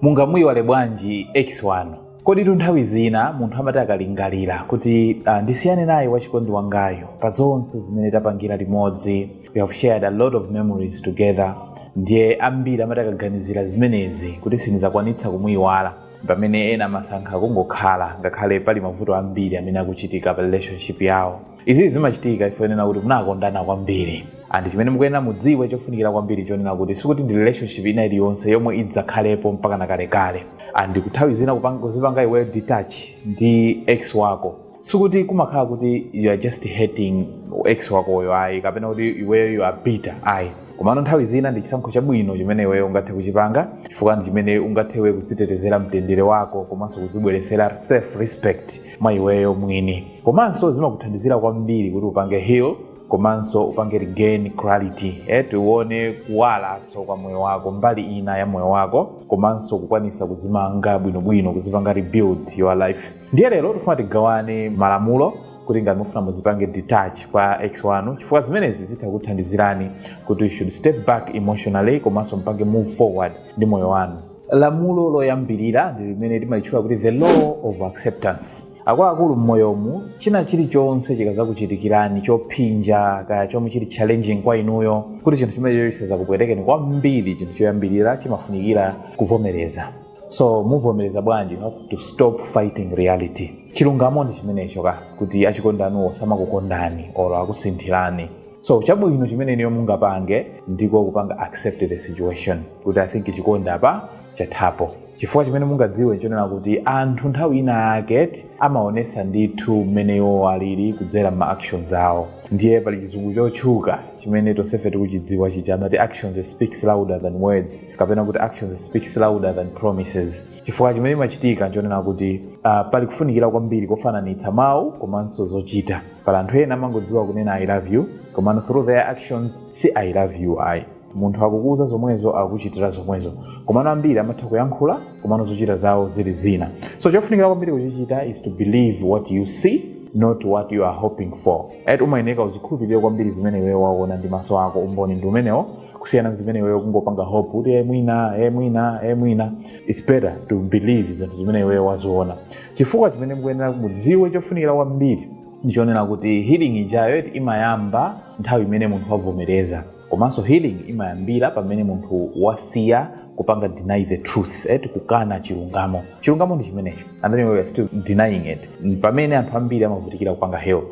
Mungamuiwale bwanji ex wanu? Koditu nthawi zina munthu amati akalingalira kuti ah, ndisiyane naye wachikondi wangayu pa zonse zimene tapangira limodzi, we have shared a lot of memories together, ndiye ambiri amati akaganizira zimenezi kuti sindizakwanitsa kumuiwala pamene ena amasankha kungokhala ngakhale pali mavuto ambiri amene akuchitika pa relationship yawo. izi zimachitika chifukwa chonena kuti munakondana kwambiri and chimene mukuyenera mudziwe chofunikira kwambiri chonena kuti sikuti ndi relationship ina iliyonse yomwe idzakhalepo mpakana kalekale and nthawi zina kupanga- kuzipanga iweyo detach ndi ex wako sikuti kumakhala kuti you are just hating ex wakoyo ayi kapena kuti iweyo you are bitter ayi komano nthawi zina ndi chisankho chabwino chimene iweyo ungathe kuchipanga chifukwa ndi chimene ungathe iwe kudzitetezera mtendere wako komanso kudzibweretsera self respect mwa iweyo mwini komanso zimakuthandizira kwambiri kuti upange heal komanso upange regain clarity eh, uone kuwalanso kwa moyo wako mbali ina ya moyo wako komanso kukwanisa kuzimanga bwinobwino kuzipanga rebuild your life ndiye lero tifuna tigawane malamulo kuti ngati mufuna muzipange detach kwa ex wanu chifukwa zimenezi zitha kuthandizirani kuti you should step back emotionally komanso mpange move forward ndi moyo wanu lamulo loyambirira ndi limene timalitchula kuti the law of acceptance akuluakulu mmoyomu china chilichonse chikazakuchitikirani chophinja kaya chomwe chili challenging kwa inuyo kuti chinthu chimenecho chisazakupwetekeni kwambiri chinthu choyambirira chimafunikira kuvomereza so muvomereza bwanji you have to stop fighting reality chilungamo ndi chimenecho ka kuti achikondi anuwo samakukondani or akusinthirani so chabwino chimene inuyo mungapange ndiko kupanga accept the situation kuti i think chikondi apa chathapo chifukwa chimene mungadziwe nchonena kuti anthu nthawi ina yake eti amaonesa ndithu mmene iwo alili kudzera ma actions awo ndiye pali chizungu chotchuka chimene tonsefe tikuchidziwa chija amati actions speaks louder than words kapena kuti actions speaks louder than promises chifukwa chimene chimachitika nchonena kuti uh, pali kufunikira kwambiri kofananitsa mawu komanso zochita pali anthu ena amangodziwa kunena i love you komano through their actions si i love you ayi munthu akukuuza zomwezo akukuchitira zomwezo komano ambiri amatha kuyankhula komano zochita zawo zili zina so chofunikira kwambiri kuchichita is to believe what you see not what you are hoping for eti umayeneka uzikhulupirire kwambiri zimene iweyo waona ndi maso ako umboni ndi umenewo kusiyana ndi zimene iweyo kungopanga hope kuti e mwina e mwina e mwina it's better to believe zinthu zimene iweyo waziona chifukwa chimene mukuyenera mudziwe chofunikira kwambiri ndichonena kuti healing ijayo eti imayamba nthawi imene munthu wavomereza komanso healing imayambira pamene munthu wasiya kupanga deny the truth eti kukana chilungamo chilungamo ndi chimenecho and then we are still denying it pamene anthu ambiri amavutikira kupanga heal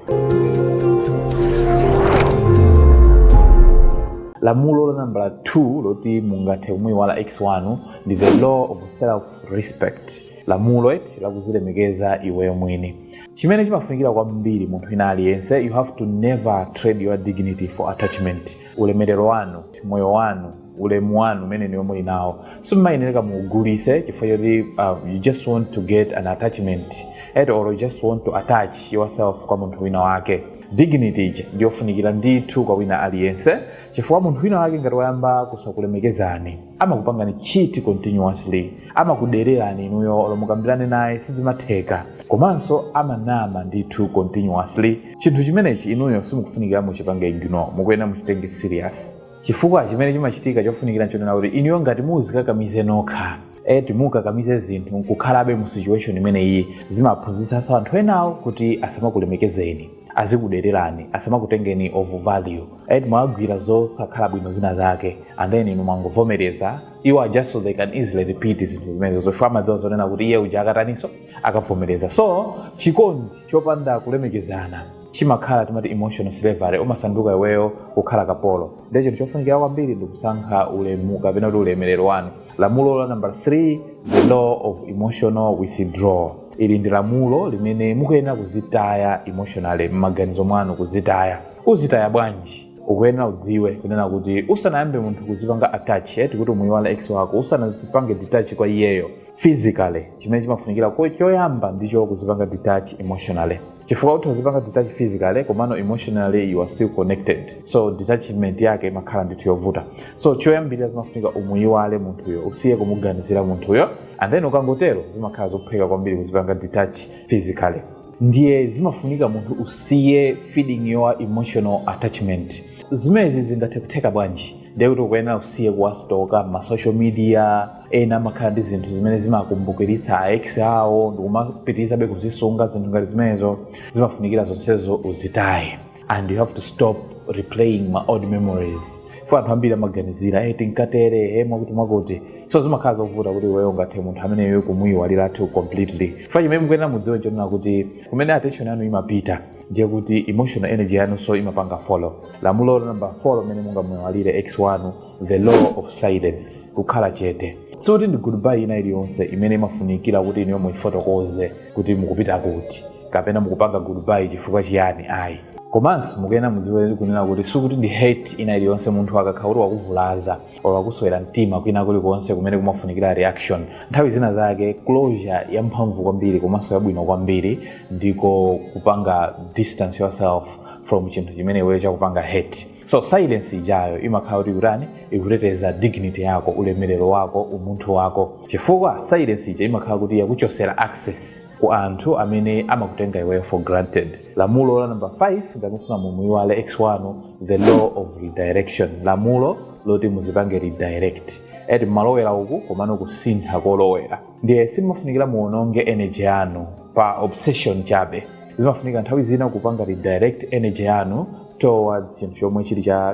lamulo la nambala 2 loti mungathe kumuyiwala ex wanu ndi the law of self respect lamulo eti lakuzilemekeza iweyo mwini chimene chimafunikira kwambiri munthu wina aliyense you have to never trade your dignity for attachment ulemerero wanu moyo wanu ulemu wanu umene inuyo muli nawo simumayenereka muugulise chifukwa choti uh, you just want to get an attachment eti or you just want to attach yourself kwa munthu wina wake dignity ija ndiyofunikira ndithu kwa wina aliyense chifukwa munthu wina wake ngati wayamba kusakulemekezani amakupangani cheat continuously amakudererani inuyo olo mukambirane naye sizimatheka komanso amanama ndithu continuously chinthu chimenechi inuyo simukufunikira muchipange ignore mukuyenera muchitenge serious chifukwa chimene chimachitika chofunikira nchonena kuti inuyo ngati muzikakamize nokha eti mukakamize zinthu nkukhalabe mu situation imene iyi zimaphunzitsanso anthu enawo kuti asamakulemekezeni azikudererani asamakutengeni of value eti mwawagwira zosakhala bwino zina zake and then inu mwangovomereza iwo are just so they can easily repeat zinthu zimenezo fukwa amadziwa zonena kuti iye uja akatanitso akavomereza so chikondi chopanda kulemekezana chimakhala timati emotional slavery umasanduka iweyo kukhala kapolo nde chinthu chofunikira kwambiri ndikusankha ulemu kapena kuti ulemerero wanu Lamulo la nambala 3, the law of emotional withdrawal. Ili ndi lamulo limene mukuyenera kuzitaya emotionally m'maganizo mwanu kuzitaya. Uzitaya bwanji? ukuyenera udziwe kunena kuti usanayambe munthu kuzipanga attach eti kuti umuyiwala ex wako usanazipange detach kwa iyeyo physically chimene chimafunikira ko- choyamba ndicho kuzipanga detach emotionally chifukwa utha kuzipanga detach physically komano emotionally you are still connected so detachment yake imakhala ndithu yovuta so choyambirira zimafunika umuyiwale munthuyo usiye kumuganizira munthuyo and then ukangotero zimakhala zophweka kwambiri kuzipanga detach physically ndiye zimafunika munthu usiye feeding your emotional attachment zimezi zingathe kutheka bwanji ndiye kuti ukuyenera usiye kuwasitoka masocial media ena amakhala ndi zinthu zimene zimawakumbukiritsa a ex awo ndikumapitirizabe kuzisunga zinthu ngati zimenezo zimafunikira zonsezo uzitaye and you have to stop replaying ma old memories fukwa anthu ambiri amaganizira e tinkatere e mwakuti mwakuti so zimakhala zovuta kuti iweyo ungathe munthu ameneyo kumuyiwaliratu completely fukwa chimene mukuyenera mudziwe nchonena kuti kumene attention yanu imapita ndiye kuti emotional energy yanunso imapanga follow lamulo namba 4 limene mungamuyiwalire ex wanu the law of silence kukhala chete sikuti ndi goodbye ina iliyonse imene imafunikira kuti inuyo muifotokoze kuti mukupita kuti kapena mukupanga goodbye chifukwa chiyani ayi komanso mukuyenera mudziwe kunena kuti sikuti ndi hurt ina iliyonse munthu akakhala kuti wakuvulaza or wakuswera mtima kwina kulikonse kumene kumafunikira reaction nthawi zina zake closure yamphamvu kwambiri komanso yabwino kwambiri ndiko kupanga distance yourself from chinthu chimene iweyo chakupanga hurt so silence ijayo imakhala kuti kutani ikuteteza dignity yako ulemerero wako umunthu wako chifukwa silence ija imakhala kuti yakuchosera access ku anthu amene amakutenga iweyo for granted lamulo la number 5 ngati mukufuna mumuyiwale ex wanu the law of redirection lamulo loti muzipange redirect eti mumalowera uku komano kusintha kolowera ndiye simafunikira muononge energy yanu pa obsession chabe zimafunika nthawi zina kupanga redirect energy yanu towards chinthu chomwe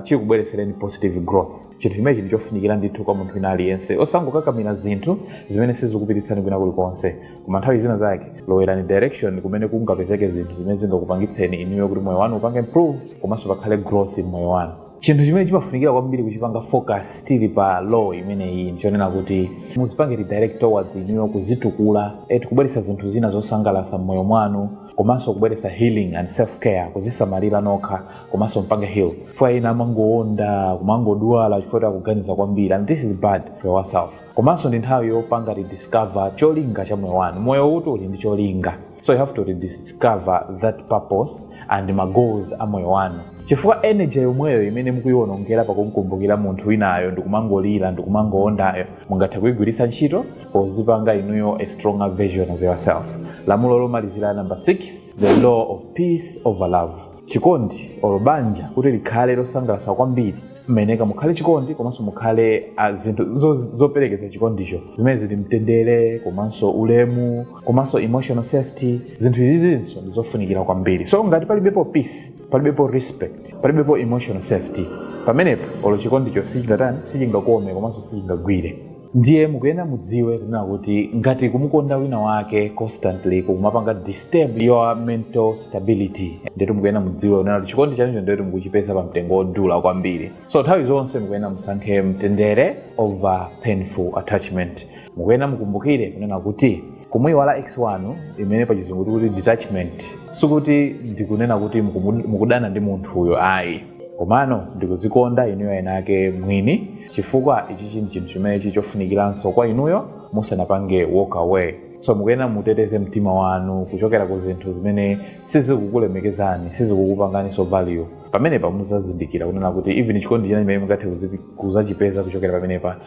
chikubweretsereni positive growth chinthu chimene chili chofunikira ndithu kwa munthu wina aliyense osangokakamira zinthu zimene sizikupititsani kwina kulikonse koma nthawi zina zake lowerani direction kumene kungapezeke zinthu zimene zingakupangitseni inuyo kuti moyo wanu upange improve komanso pakhale growth m'moyo wanu chinthu chimene chimafunikira kwambiri kuchipanga focus tili pa law imeneyi ndichonena kuti muzipange redirect towards inuyo kudzitukula eti kubweretsa zinthu zina zosangalatsa mmoyo mwanu komanso kubweretsa healing and self care kudzisamalira nokha komanso mupange heal chifukwa ena amangoonda kumangodwala chifukwa choti akuganiza kwambiri and this is bad for yourself komanso ndi nthawi yopanga rediscover cholinga cha moyo wanu moyo uti uli ndi cholinga so you have to rediscover that purpose and ma goals a moyo wanu chifukwa energy yomweyo imene mukuyiwonongera pakumkumbukira munthu winayo ndikumangolira ndikumangoondayo mungathe kuyigwiritsa ntchito pozipanga inuyo a stronger version of yourself lamulo lomalizira number 6 the law of peace over love chikondi olo banja kuti likhale losangalatsa kwambiri mmayeneka mukhale chikondi komanso mukhale ah, zinthu zo- zoperekeza chikondicho zimene zili mtendere komanso ulemu komanso emotional safety zinthu izizinso ndizofunikira kwambiri so ngati palibepo peace palibepo respect palibepo emotional safety pamenepo olo chikondicho sichingatani sichingakome komanso sichingagwire ndiye mukuyenera mudziwe kunena kuti ngati kumukonda wina wake constantly kukumapanga disturb your mental stability ndetu mukuyenera mudziwe kunena kuti chikondi chanucho ndetu mukuchipeza pa mtengo wodula kwambiri so nthawi zonse mukuyenera musankhe mtendere over painful attachment mukuyenera mukumbukire kunena kuti kumuyiwala ex wanu imene pa chizungu tikuti detachment sikuti ndikunena kuti mukumu- mukudana ndi munthuyo ayi komano ndikuzikonda inuyo ena ake mwini chifukwa ichi ndi chinthu chimene chili chofunikiranso kwa inuyo musanapange walk away so mukuyenera muteteze mtima wanu kuchokera ku zinthu zimene sizikukulemekezani sizikukupanganiso value pamenepa muzazindikira kunena kuti even chikondi china chimene mungathe kuzipi- kuzachipeza kuchokera pamenepa